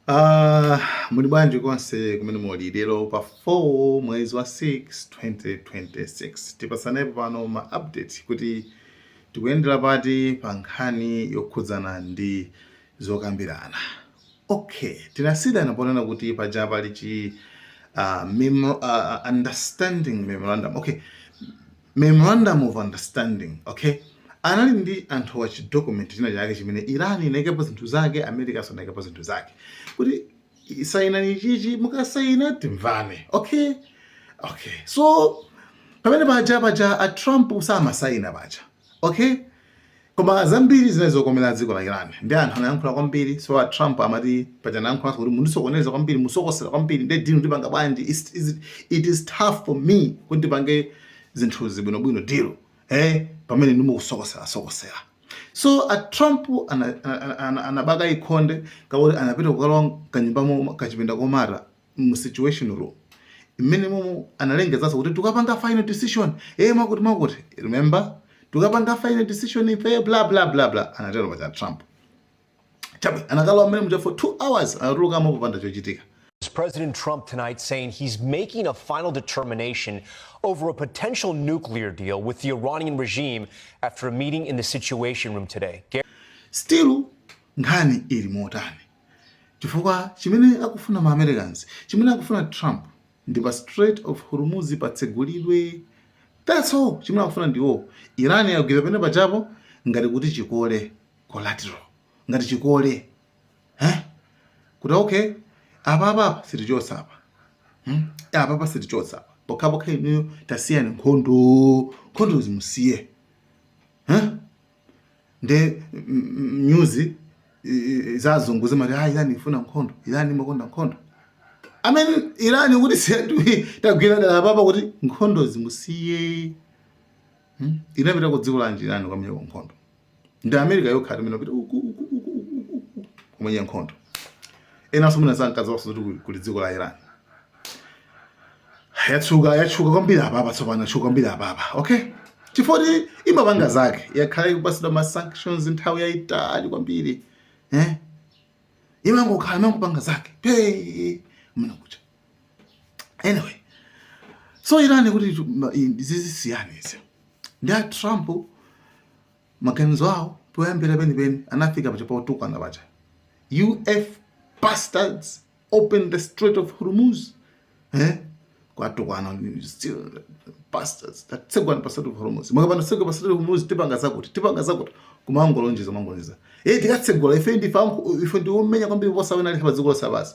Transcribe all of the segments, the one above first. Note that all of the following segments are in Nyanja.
Uh, muli bwanji konse kumene muli lero pa 4 mwezi wa 6 2026 tipatsanepo pano ma update kuti tikuyendera pati pa nkhani yokhudzana ndi zokambirana okay tinasiyana ponena kuti paja pali chi uh, memo, uh, understanding memorandum okay Memorandum of Understanding, OK? Anali ndi anthuwa chidocument china chake chimene Iran inaikapo zinthu zake, Americanso inaikapo zinthu zake. Kuti i- sainani ichichi, mukasaina timvane. OK? OK. So pamene paja paja a Trump amasaina paja. OK? Koma zambiri zinali zokomera dziko la Iran. Ndiye anthu anayankhula kwambiri, so a Trump amati paja anayankhulanso kuti mundisokoneza kwambiri, musokosera kwambiri, ndiye deal ndipanga bwanji, it's, it's, it is tough for me kuti ndipange zinthuzi bwinobwino deal eh, pamene ndimukusokosera sokosera so a Trump anabakaika nde kakuti anapita kukalowa kanyumbamo kachipinda komata mu situation room imene momo analengezanso kuti tukapanga final decision eh mwakuti mwakuti remember tukapanga final decision ife bla bla bla bla anatero paja Trump chabe anakalowa mmene muja for 2 hours anatulukamo popanda chochitika President Trump tonight saying he's making a final determination over a potential nuclear deal with the Iranian regime after a meeting in the Situation Room today. Still, nkhani ili motani? chifukwa chimene akufuna ma Americans, chimene akufuna Trump ndi pa Strait of Hormuz patsegulidwe. That's all chimene akufuna ndiwo. Iran yagwira penepajapo ngati kuti chikole collateral, ngati chikole eh? kuti okay apapa sitichotsa apa hmm? apapa sitichotsa apa pokhapokha inuyo tasiyani nkhondo nkhondo zimusiye eh? nde nyuzi zazungu zimati ah, Iran ifuna nkhondo Iran imakonda nkhondo pamene Iran ikuti tagwira dala apapa kuti nkhondo zimusiye hmm? inapita ku dziko lanji Iran kukamenya nkhondo ndi America yokhayo imene ipita kumenya nkhondo enanso sankadziwanso kuti kuli dziko la Iran yatsuka yatchuka kwambiri apapa tsopano yatchuka kwambiri apapa okay chifoti imapanga zake yakhala ikupatsidwa ma sanctions nthawi yayitali kwambiri eh imangokhala imangopanga zake mmene kwacha anyway so Iran ikuti zisiyeni izi ndi a trump Maganizo awo poyambira penipeni anafika paja potukwana paja. You F bastards open the Strait of Hormuz. Eh? kwatukwana still bastards tatsegulani pa Strait of Hormuz. Mukapanda kutsegula pa Strait of Hormuz tipanga zakuti, tipanga zakuti kumangolonjeza kumangolonjeza. Eh tikatsegula ife ndife ife ndi omenya kwambiri kuposa wina aliyense pa dziko lonse lapansi.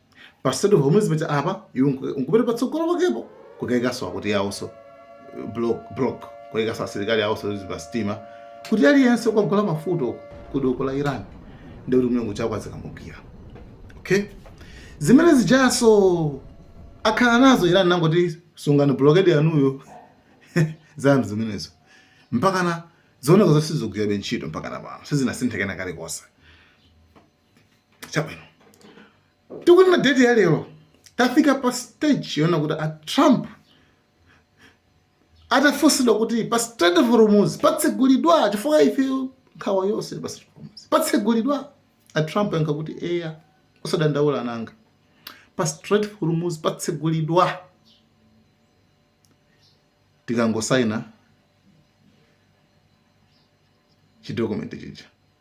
pa strait of hormuz paja apa iwe nku- nkupita patsogolo pakepo kukaikanso akuti iwonso block block kukaikanso asilikali awonso pa sitima kuti aliyense okagula mafuta uku ku doko la iran ndi kuti mlungu chako azikamugwira okay zimene zijanso akhala nazo iran anangoti sungani blokedi yanuyo zanu zimenezo mpakana zioneka zoti sizigwirabe ntchito mpakana pano sizinasinthekena kalikonse chabwino tikunena date ya lero tafika pa stage yonena kuti a trump atafunsidwa kuti pa strait of hormuz patsegulidwa chifukwa ife nkhawa yonse pa strait of hormuz patsegulidwa a trump anayankha kuti eya osadandaula ananga pa strait of hormuz patsegulidwa tikangosaina chidokumenti chija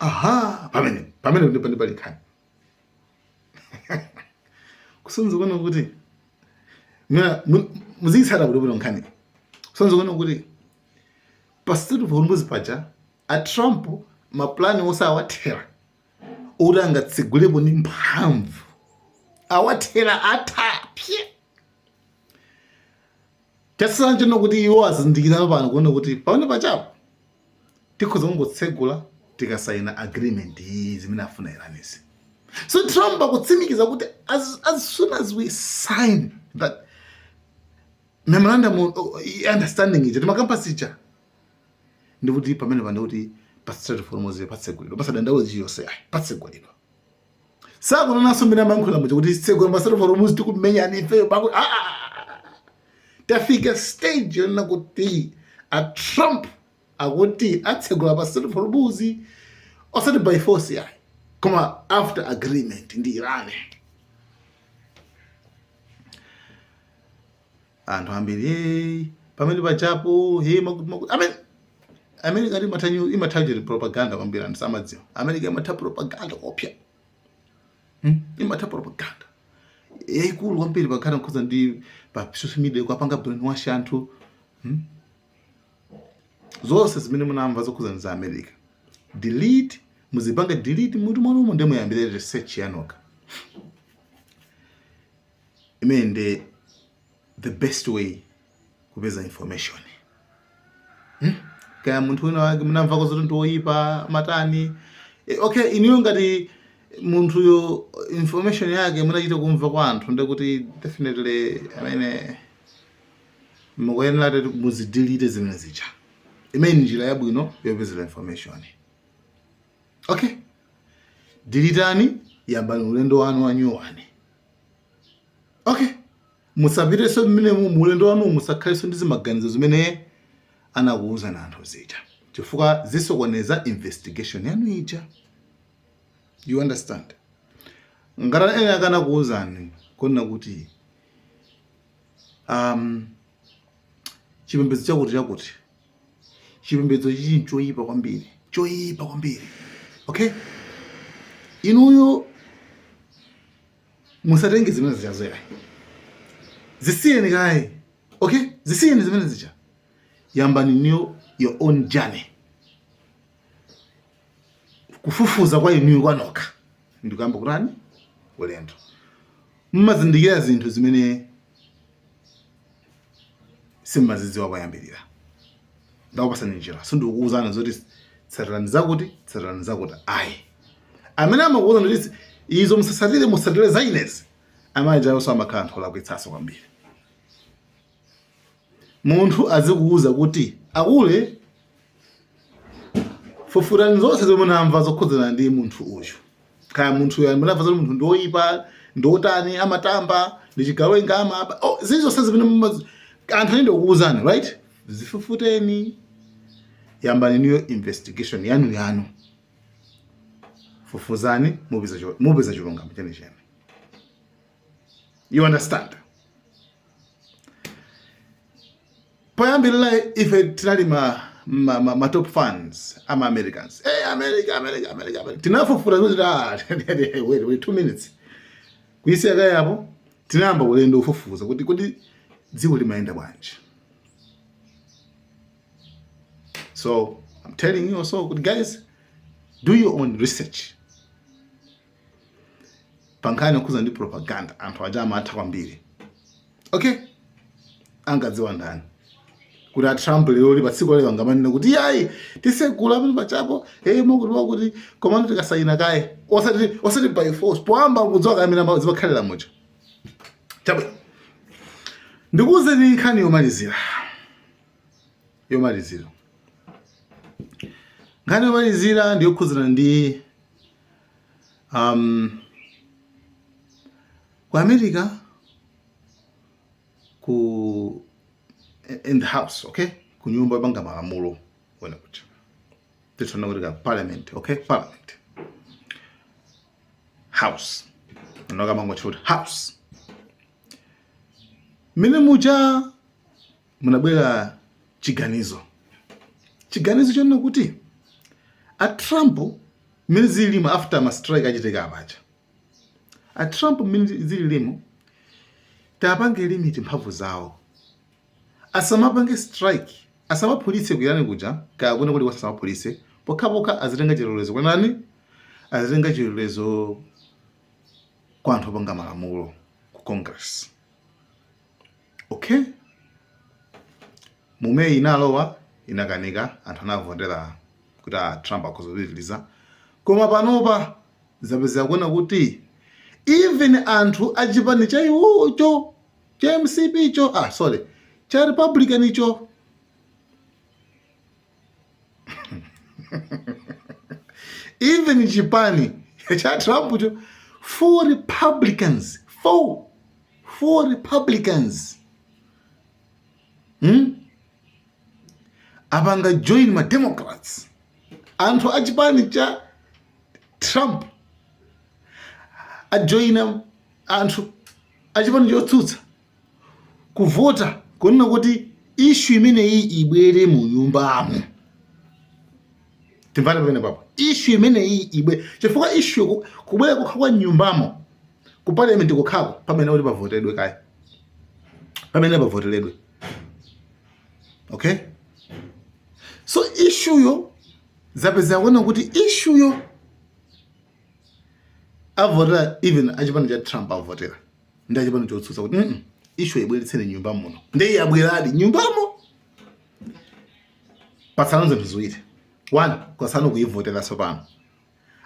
aha pamene pamene ndipo ndipo pali nkhani kusonyeza kunena kuti mina muziyitsata kuti bwino nkhani kusonyeza kunena kuti pa strait of hormuz paja a trump mapulani onse awathera oti angatsegulepo ndi mphamvu awathera atapsye Chasiyana chino kuti iwo azindikira pano kunena kuti pamene pajapo tikhoza kungotsegula tikasayina agreement iyi zimene akufuna Iranizi. So Trump akutsimikiza kuti as, as soon as we sign that memorandum of understanding ija timakampasi ija ndikuti pamene pano kuti pa Strait of Hormuz patsegulidwa pasadandaule aliyense ayi patsegulidwa sakunenanso mmene amayankhula muja kuti tsegulani pa strait of hormuz tikumenyani ifeyo pakuti ah, ah, ah, tafika stage yonena kuti a trump akuti atsegula pa strait of hormuz osati by force yayi koma after agreement ndi iran anthu ambiri hey, pamene pajapo hey, makuti makuti amene america imatha nyu- imatha chete propaganda kwambiri anthu samadziwa america imatha propaganda koopsa hmm? imatha propaganda yaikulu kwambiri pakhala nkhondo ndi pa social media kuwapanga brainwash anthu hmm? zonse zimene munamva zokhuza ndi za america delete muzipanga delete mutu mwanumo nde muyambire research yanokha imene ndi the best way kupeza information hmm? kaya munthu wina wake munamvako zoti ndi woyipa matani e, okay iniyo ngati munthuyo information yake munachita kumva kwa anthu ndekuti definitely amene mukuyenera kuti muzidilite zimene zija imene njira yabwino yopezera information okay Dilitani, yambani ulendo wanu wa nyuwani. Okay. Musapiteso mmene mu mu ulendo wanu musakhaleso ndi zimaganizo zimene anakuuzani anthu zija. Chifukwa zisokoneza investigation yanu ija. You understand? Ngati ena anakakuuzani kunena kuti um chipembedzo chakuti chakuti chipembedzo ichi nchoyipa kwambiri choyipa kwambiri okay inuyo musatenge zimene zija zo ayi zisiyeni kaye okay zisiyeni zimene zija yambani new own journey kufufuza kwa inuyo kwanokha ndikuyamba kutani ulendo mmazindikira zinthu zimene simmazidziwa koyambirira ndakupasani njira sindikukuwuzani zoti tsatirani zakuti tsatirani zakuti ayi amene amakuwuzani kuti izo musasatire musatire za inezi amajawonso amakhala anthu olakwitsaso kwambiri munthu azikuwuza kuti akule fufutani zonse zomwe munamva zokhudzana ndi munthu uyu kaya munthu uyu munamva zoti munthu ndiwoyipa ndiwotani amatamba ndi chigawenga amaba oh, zili zonse zimene muma- anthu anende kukuwuzani right zifufuteni yambani new investigation yanu yanu fufuzani mupeza cho- mupeza chilungamo chenicheni you understand Poyambilila ife tinali ma ma ma ma top fans ama Americans. Hey America America America America. Tinafufuta zonse kuti ah, wait wait 2 minutes. Kuisiya kaye apo tinayamba ulendo ufufuza kuti kuti dziko limayenda bwanji. So I'm telling you also kuti guys do your own research. pa nkhani yokhuza ndi propaganda anthu aja amatha kwambiri okay angadziwa ndani kuti atrump lero lino pa tsiku la lero angamanena kuti yayi tisegula pano pachapo eh makuti wakuti komano tikasayina kaye osati osati by force poyamba kudziwa kamene ma- zimakhalira muja chabwino ndikuwuzeni nkhani yomalizira yomalizira nkhani yomalizira ndiyokhudzana ndi Ku America ku in the house okay ku nyumba yopanga malamulo ena kuti titoona kuti ka parliament okay parliament house nokha mmangoti choti house mene muja munabwera chiganizo chiganizo chonena kuti a Trump mmene zililimu after ma strike achitika apaja a Trump mmene zililimu tapange limit mphamvu zawo asamapange strike asamaphulitse ku Iran kuja kaya kwina kulikonse asamaphulitse pokhapokha azitenga chilolezo kwa ndani azitenga chilolezo kwa anthu opanga malamulo ku Congress Okay. Mu May inalowa inakanika anthu anavotera kuti a ah, Trump akhoza kupitiriza. Koma panopa zapezeka kunena kuti even anthu achipani cha iwocho cha MCP cho ah sorry cha Republican cho even chipani cha Trump cho four Republicans four four Republicans hmm? apanga join ma Democrats anthu a chipani cha Trump ajoina anthu a chipani chotsutsa kuvota kunena kuti ishu imeneyi ibwere mu nyumbamu timvane pamene papo ishu imeneyi ibwe chifukwa ishu kubwera kokha kwa nyumbamo ku parliament kokhako pamafunika kuti pavotedwe kaye pamene pavoteredwe okay so ishuyo zapezeka kunena kuti ishuyo avotera even achipani cha Trump avotera ndi achipani chotsutsa kuti mm ishu ibweretseni mnyumba muno ndiye yabweradi mnyumbamo patsala zinthu ziwiri one kwatsala kuivotera tsopano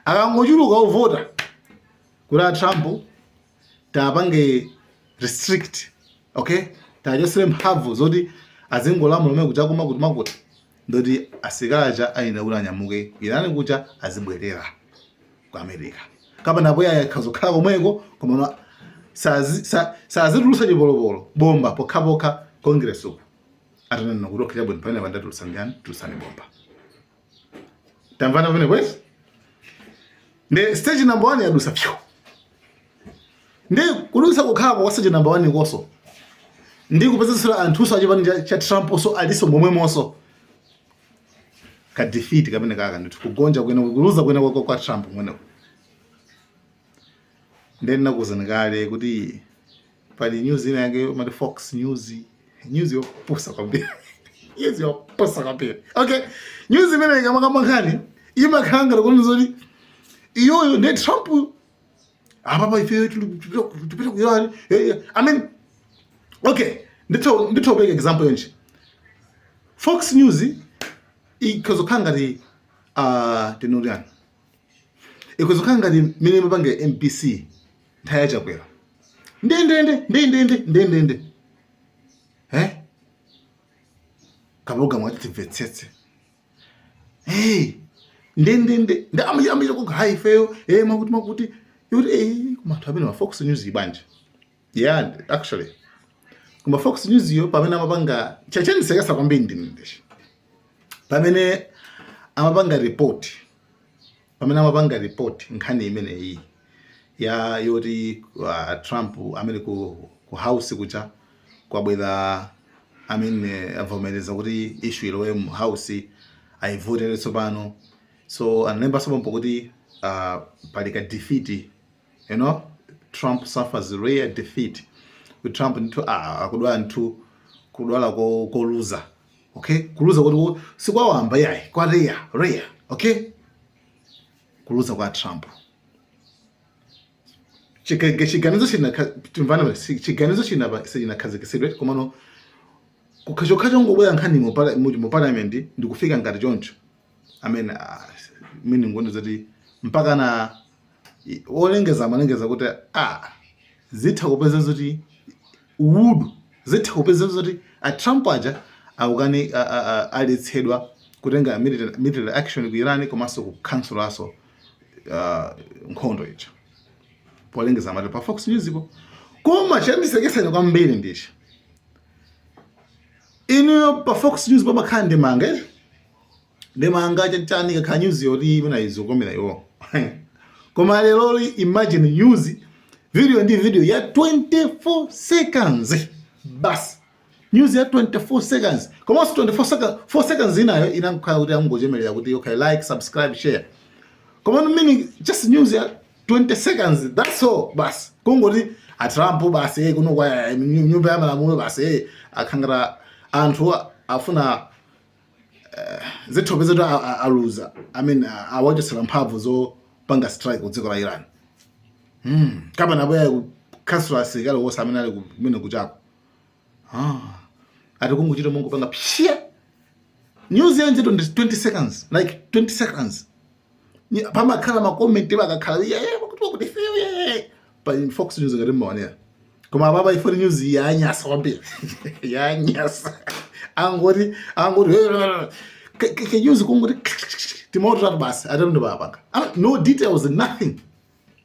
akangochuluka ovota kuti a Trump tapange restrict okay tiwachotsere mphamvu zoti azingolamula komwe kuja koma kuti mwakuti ndoti asilikali aja ayenera kuti anyamuke ku Iran kuja azibwerera ku America kapena bola akhoza kukhala komweko komano asazitulutsa chipolopolo bomba pokhapokha congress uku atanena kuti okay chabwino pamenepa ndatulutsa nkhani tulutsani bomba tamvana pamenepa izi ndi stage number 1 yadutsa iyo ndiye kudutsa kokhako kwa stage number 1 konso ndi kupezetsera anthunso achipani cha Trump nso alinso momwemonso ka defeat kamene kaka ndithu kugonja kwene kuluza kwene kwa, kwa Trump kumeneku ndiye ndinakuuzani kale kuti pali news ina yake amati Fox News news yopusa kwambiri news yopusa kwambiri okay news imene ikamakamba nkhani imakhala ngati kuti zoti iyoyo ndi Trump apapa ifeyo tipita kuyani eh, eh, i mean okay nditha nditha kupeleka example yonena fox news ikhozokhala ngati uh, tinene tani ikhozokhala ngati mmene imapangira mbc nthawi ya chakwera ndendende ndendende ndendende eh kapena mwati timvetsetse hey ndendende ndi amachita kuga hayi ifeyo eh makuti makuti yoti eh koma anthu amene ma Fox News ibanje yeah actually koma Fox News-yo pamene amapanga chachendisekesa kwambiri ndi ndichi pamene amapanga report Pamene amapanga report nkhani imeneyiyi ya yoti uh, Trump amene ku, ku house kucha kwabwera anthu avomereza kuti issue ilowe mu house ayivotere tsopano so analembanso pompo kuti uh, pali ka defeat you know trump suffers rare defeat trump ndithu ah, akudwala ndithu kudwala ko- koluza okay kuluza kuti ku- sikwawamba yayi kwa rare rare okay kuluza kwa trump Chikage- chiganizo chinakha- timvana si- chiganizo chinapa- sichinakhazikisidwe komano chokhacho chongobwera nkhani mu pala- mu- mu parliament ndikufika ngati choncho I mean, uh, meaning ngonena zoti mpakana olengeza amalengeza kuti ah, zitha kupeza zoti wood zitha kupeza zoti a Trump aja akukanizidwa aletsedwa kutenga military action ku Iran komanso kukhansulaso uh, nkhondo ija polengeza amati pa Fox News-po koma chandisekesani kwambiri ndichi ineyo pa Fox News pamakhala ndemanga ndemanga chanichani ikakhala news yoti imene izikomera iwo koma lero li imagine news video ndi video ya 24 seconds basi news ya 24 seconds komanso 24 seconds 4 seconds inayo inakhala kuti amungochemerera kuti okay like subscribe share koma meaning just news ya 20 seconds that's all basi kungoti a Trump basi eh, kuno kwa eh, nyumba ya malamulo basi eh, akhangala anthu afuna eh, zikhoza kupezeka kuti aluza i mean awachotsela mphamvu zopanga strike ku dziko la iran hmm. kapena abwera kukawachotsa asilikali onse amene ali kumene kujako ah. ati kungochita mongopanga psya news yake ndi 20 seconds like 20 seconds pamakhala makomenti pakakhala iye eh, kuti kuti eh, pa fox news ngati mumaonera koma apapa ifoli news yanyasa kwambiri yanyasa angoti angoti kanews kungoti timawu titatu basi atha ndi kupanga ah, no details nothing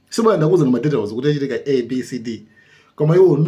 sabwera ndi kukuuza ndi madetails kuti zachitika a b c d koma iwo